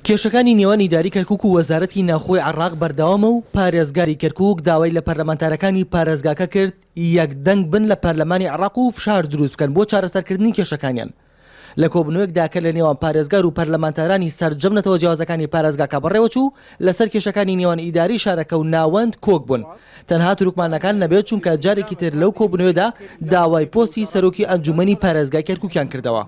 کێشەکانی نێوان ئیدارەی کەرکوک و وەزارەتی ناوخۆی عێراق بەردەوامە و پارێزگاری کەرکوک داوای لە پەرلەمانتارەکانی پارێزگاکە کرد یەک دەنگ بن لە پەرلەمانی عێراق و فشار دروست بکەن بۆ چارەسەرکردنی کێشەکانیان لە کۆبوونەوەکدا کە لە نێوان پارێزگار و پەرلەمانتارانی سەرجەم نەتەوە جیاوازەکانی پارێزگاکە بەڕێوەچوو لەسەر کێشەکانی نێوان ئیدارەی شارەکە و ناوەند کۆک بوون، تەنها تورکمانەکان نەبێت، چونکە جارێکی تر لەو کۆبوونەوەدا داوای پۆستی سەرۆکی ئەنجوومەنی پارێزگای کەرکووکیان کردەوە.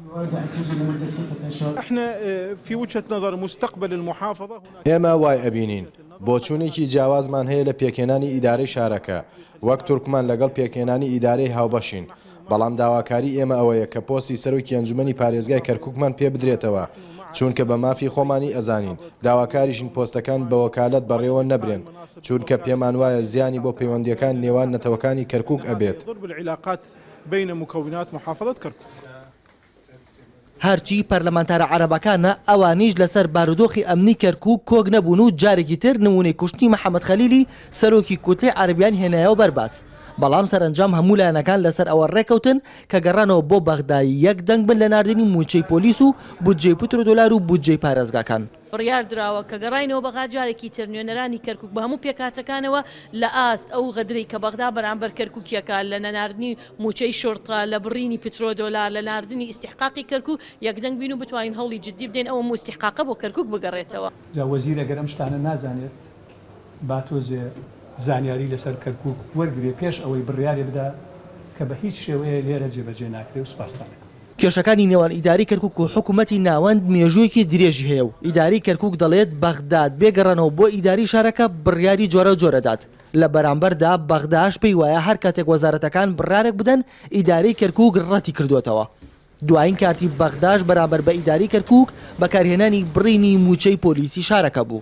ئێمە وای ئەبینین بۆچوونێکی جیاوازمان هەیە لە پێکهێنانی ئیدارەی شارەکە، وەک تورکمان لەگەڵ پێکهێنانی ئیدارەی هاوبەشین، بەڵام داواکاری ئێمە ئەوەیە کە پۆستی سەرۆکی ئەنجومەنی پارێزگای کەرکوکمان پێ بدرێتەوە چوونکە بە مافی خۆمانی ئەزانین داواکاریشین پۆستەکان بە وەکالەت بەڕێوە نەبرێن چوونکە پێمان وایە زیانی بۆ پەیوەندیەکان نێوان نەتەوەکانی کەرکوک ئەبێت. هەرچی پەرلەمانتارە عەرەبەکانە ئەوانیش لەسەر بارودۆخی ئەمنی کەرکوک کۆک نەبوون و جارێکی تر نمونەی کوشتنی محەمەد خەلیلی سەرۆکی کوتلەی عەرەبیان هێنایەوە بەر باس بەڵام سەرەنجام هەموو لایەنەکان لەسەر ئەوە ڕێکەوتن کە گەڕانەوە بۆ بەغدا یەک دەنگ بن لە ناردنی موچەی پۆلیس و بودجەی پترو دۆلار و بودجەی پارێزگاکان. بڕیار دراوە کە گەڕاینەوە بەغا جارێکی تر نوێنەرانی کەرکوک بە هەموو پێکهاتەکانەوە لە ئاست ئەو غەدرەی کە بەغدا بەرامبەر کەرکوکیەکا لە نەناردنی موچەی شورتە لە بڕینی پترۆ دۆلار لە ناردنی ئیستیحقاقی کەرکو یەکدەنگ بین و بتوانین هەوڵی جدی بدەین ئەو هەموو ئیستیحقاقە بۆ کەرکوک بگەڕێتەوە. جا وەزیر ئەگەر ئەم شتانە نازانێت. با تۆزێ زانیاری لەسەر کەرکوک وەرگرێ پێش ئەوەی بڕیارێ بدا کە بە هیچ شێوەیە لێرە جێبەجێ ناکرێ و سوپاستان ئەکەم. کێشەکانی نێوان ئیدارەی کەرکوک و حکومەتی ناوەند مێژوویەکی درێژی هەیە و ئیدارەی کەرکوک دەڵێت بەغداد بێ گەڕانەوە بۆ ئیدارەی شارەکە بڕیاری جۆراوجۆر ئەدات لە بەرامبەردا بەغداش پێی وایە هەر کاتێک وەزارەتەکان بڕارێک بدەن ئیدارەی کەرکوک ڕەتی کردۆتەوە دواین کارتی بەغداش بەرامبەر بە ئیدارەی کەرکوک بەکارهێنانی بڕینی موچەی پۆلیسی شارەکە بوو.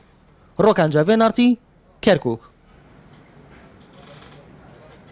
ڕۆکانجا ڤێناڕتی کەرکووک.